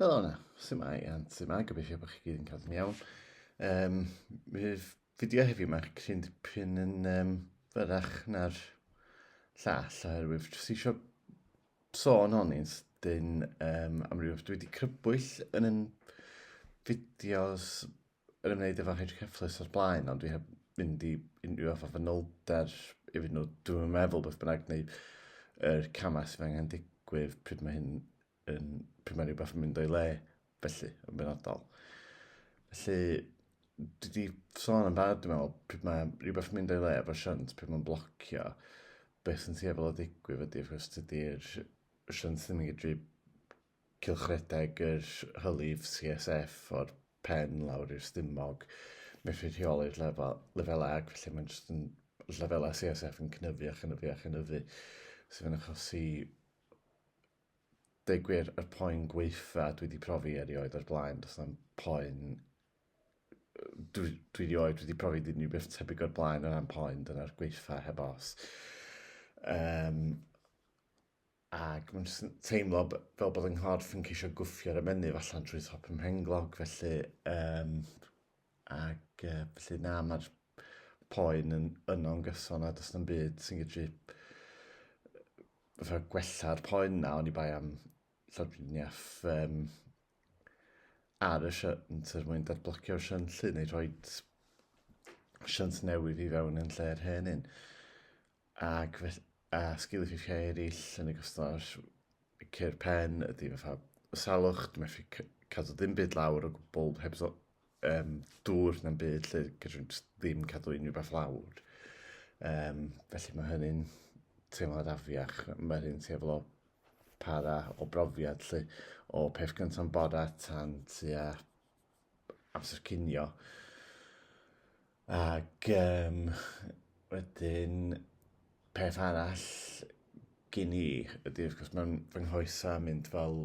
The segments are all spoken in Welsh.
Helo na, sy'n mai, a sy'n mai, gobeithio bod chi gyd yn cael yn iawn. Um, Fydd fideo heddiw mae'r cryn dipyn yn um, fyrach na'r llall, oherwydd jyst eisiau sôn hon i'n sydyn um, amryw, dwi wedi crybwyll yn yn fideos yn ymwneud efo hedge cyfflus o'r blaen, ond dwi heb fynd i unrhyw fath o fanylder i fynd nhw, dwi'n meddwl beth bynnag, neu yr er camau sydd angen digwydd pryd mae hyn yn, pryd mae rhywbeth yn mynd o'i le, felly, yn benodol. Felly, dwi wedi sôn yn barod, dwi'n meddwl, pryd mae rhywbeth yn mynd o'i le efo shunt, pryd mae'n blocio, beth sy'n tueddol o ddigwydd ydy, wrth gwrs, dydy'r shunt ddim yn gydru cylchredeg yr hylif CSF o'r pen lawr i'r stumog, methu rheoli'r lefel, lefelau ac felly mae'n jyst yn lefelau CSF yn cynyddu a chynyddu a chynyddu sydd yn achosi deg gwir yr poen gweitha dwi wedi profi erioed o'r blaen, does na'm poen dwi, dwi rioed wedi profi dim ni beth tebyg o'r blaen o ran poen, dyna'r gweitha heb os. Um, ac mae'n jyst yn teimlo b- fel bod yng nghorff yn ceisio gwffio'r ymennydd allan trwy thop y mhenglog, felly, um, ac uh, felly na, mae'r poen yn yno'n gyson a does na'm byd sy'n gallu fatha gwella'r poen na, ond i bai am llawdriniaeth um, ar y siant er mwyn dadblocio'r siant llu neu rhoi siant newydd i fewn yn lle'r hen un. Ac fe- a sgil effeithiau eraill, yn ogystal â'r cur pen, ydy fatha salwch, dwi'n methu c- cadw ddim byd lawr o gwbl, heb ddo- yym, dŵr na'm byd lle gallwn i jyst ddim cadw unrhyw beth lawr. Yym, felly mae hynny'n teimlad afiach. Mae hynny'n teimlo para o brofiad lle o peth gynta'n bora tan tua amser cinio. Ac um, wedyn, peth arall gyn i ydy, wrth gwrs, mae'n fy nghoesa mynd fel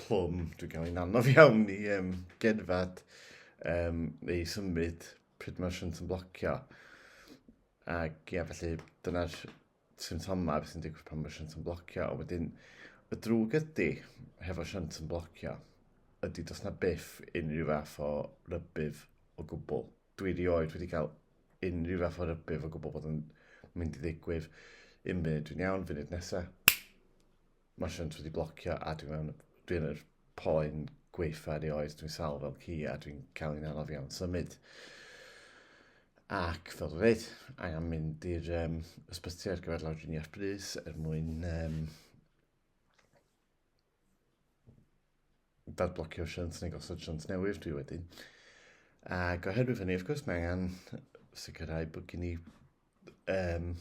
plwm. Dwi'n cael ein anodd iawn i um, gerdded um, neu symud pryd mae'r shunt yn blocio. Ac ia, felly, dyna'r symptomau, beth sy'n digwydd pan mae shunt yn blocio, a wedyn y drwg ydy, hefo shunt yn blocio, ydy dos na byth unrhyw fath o rybydd o gwbl. Dwi rioed wedi cael unrhyw fath o rybydd o gwbl bod yn mynd i ddigwydd. Un munud dwi'n iawn, funud nesaf, Mae Siânt wedi blocio a dwi mewn... dwi yn yr poen gwaetha erioed, dwi'n sal fel ci a dwi'n cael i'n anodd iawn symud. Ac fel dwi'n dweud, angen mynd i'r um, ysbyty ar gyfer lawdriniaeth brys er mwyn um, dadblocio siant neu gosod siant newydd dwi wedi. Ac oherwydd hynny, wrth gwrs, mae angen sicrhau bod gen i um,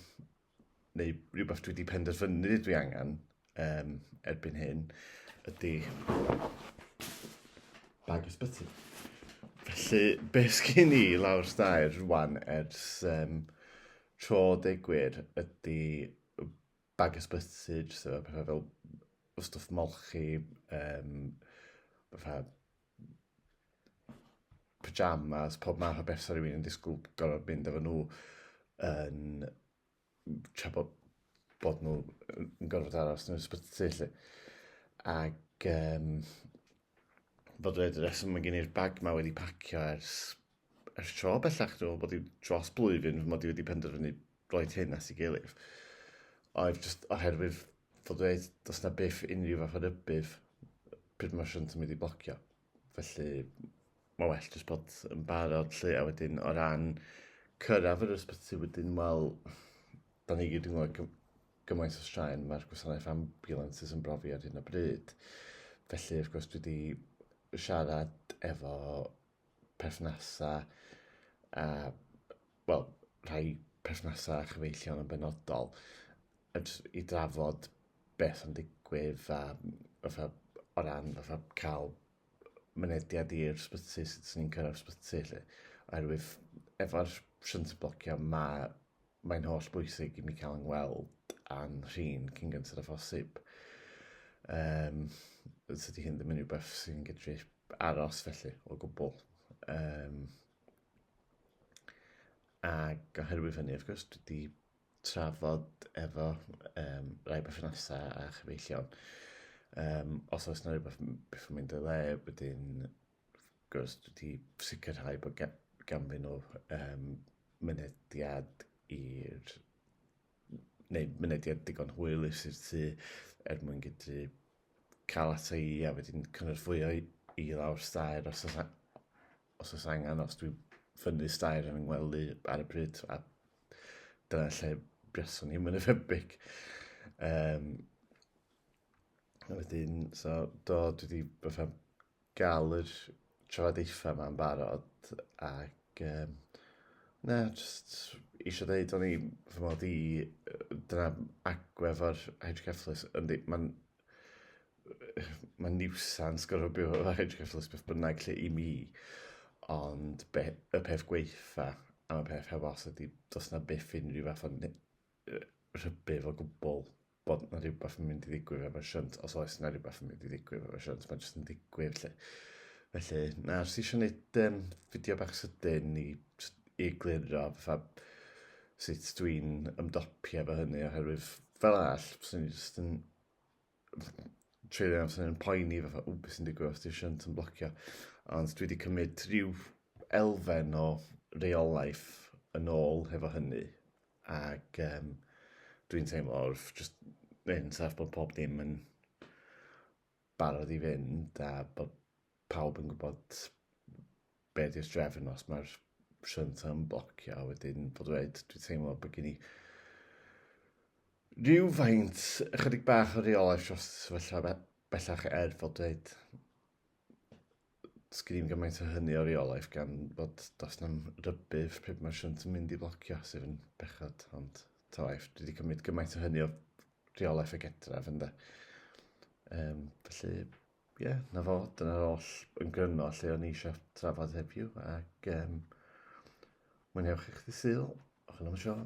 neu rhywbeth dwi wedi penderfynu dwi angen um, erbyn hyn, ydy bag ysbyty. Felly, be sgyn i lawr stair rwan ers um, tro degwyr ydy bag ysbyty, jyst efo pethau fel stwff molchi, um, pethau pyjamas, pob math o beth sa rhywun yn disgwyl gorfod mynd efo nhw yn tra bod, bod nhw yn gorfod aros yn yr ysbyty lle. Ac um, bod yr reswm mae gen i'r bag ma wedi pacio ers ers tro bellach, dwi'n meddwl bod i dros blwyddyn fy mod i wedi penderfynu roed hyn at ei gilydd. Oedd just oherwydd fod dweud, does na byth unrhyw fath o rybydd pryd mae'r siwnt yn mynd i blocio. Felly, mae well jyst bod yn barod lle, a wedyn o ran cyrraedd yr ysbyty wedyn, wel, da ni gyd yn gwybod gymaint o straen mae'r gwasanaeth ambulances yn brofi ar hyn o bryd. Felly, wrth gwrs, dwi wedi siarad efo perthnasau a, wel, rhai perthnasau a chyfeillion yn benodol i drafod beth yn digwydd a fatha, o ran fatha cael mynediad i'r sbyty, sut sy'n ni'n cyrraedd sbyty lle. Oherwydd efo'r shunt blocio mae mae'n holl bwysig i mi cael yng ngweld a'n rhin cyn gyntaf y phosib. Um, tydi hyn ddim yn rhywbeth sy'n gydru aros felly o gwbl. Um, ac oherwydd hynny, wrth gwrs, dwi wedi trafod efo um, rai berthnasau a chyfeillion. Um, os oes yna rhywbeth beth yn mynd y le, wedyn, wrth gwrs, dwi wedi sicrhau bod ganddyn nhw um, mynediad i'r neu mynediad digon hwyl i'r sir tu er mwyn gydru cael ata i a wedyn cynorthwyo i, i lawr stair os oes, os oes angen, os dwi'n ffynnu stair yn ngwely ar y bryd, a dyna lle buaswn i'n mynd efebig. Um, wedyn, so, do, dwi wedi fatha gael yr trafodaethau yma'n barod ac um, na, just eisiau dweud o'n i fy mod i dyna agwef o'r hydrocephalus yndi, mae'n mae'n niwsans gorfod byw efo hydrocephalus beth bynnag lle i mi ond be, y peth gweitha am y peth heb os ydy does na byth unrhyw fath o rhybudd o gwbl bod na rhywbeth yn mynd i ddigwydd efo Shunt, os oes na rhywbeth yn mynd i ddigwydd efo Shunt, mae'n jyst yn ddigwydd lle. Felly, na, os eisiau gwneud um, fideo bach sydyn i, i gliro fatha sut dwi'n ymdopi efo hynny, oherwydd fel all, fyswn i'n jyst yn treulio amser yn poeni fatha, ww, beth sy'n digwydd os di'r shunt yn blocio. Ond dwi wedi cymryd rhyw elfen o reolaeth yn ôl hefo hynny. Ac um, dwi'n teimlo wrth just yn saff bod pob dim yn barod i fynd a bod pawb yn gwybod be di'r drefn os mae'r synth yn blocio a wedyn bod dweud, dwi'n teimlo bod gen i rhyw faint ychydig bach o reolaeth dros y sefyllfa bellach er fod dweud sgyn i'n gymaint o hynny o reolaeth gan bod dos na'n rybydd pryd mae'r synt yn mynd i blocio sydd yn bechod ond tawaeth dwi wedi cymryd gymaint o hynny o reolaeth y gedraf ynddo um, felly Ie, yeah, na fo, dyna'r oll yn gryno lle o'n i eisiau trafod heddiw, ac um, mwynhewch eich ddisyl, o'ch yn am y siôn.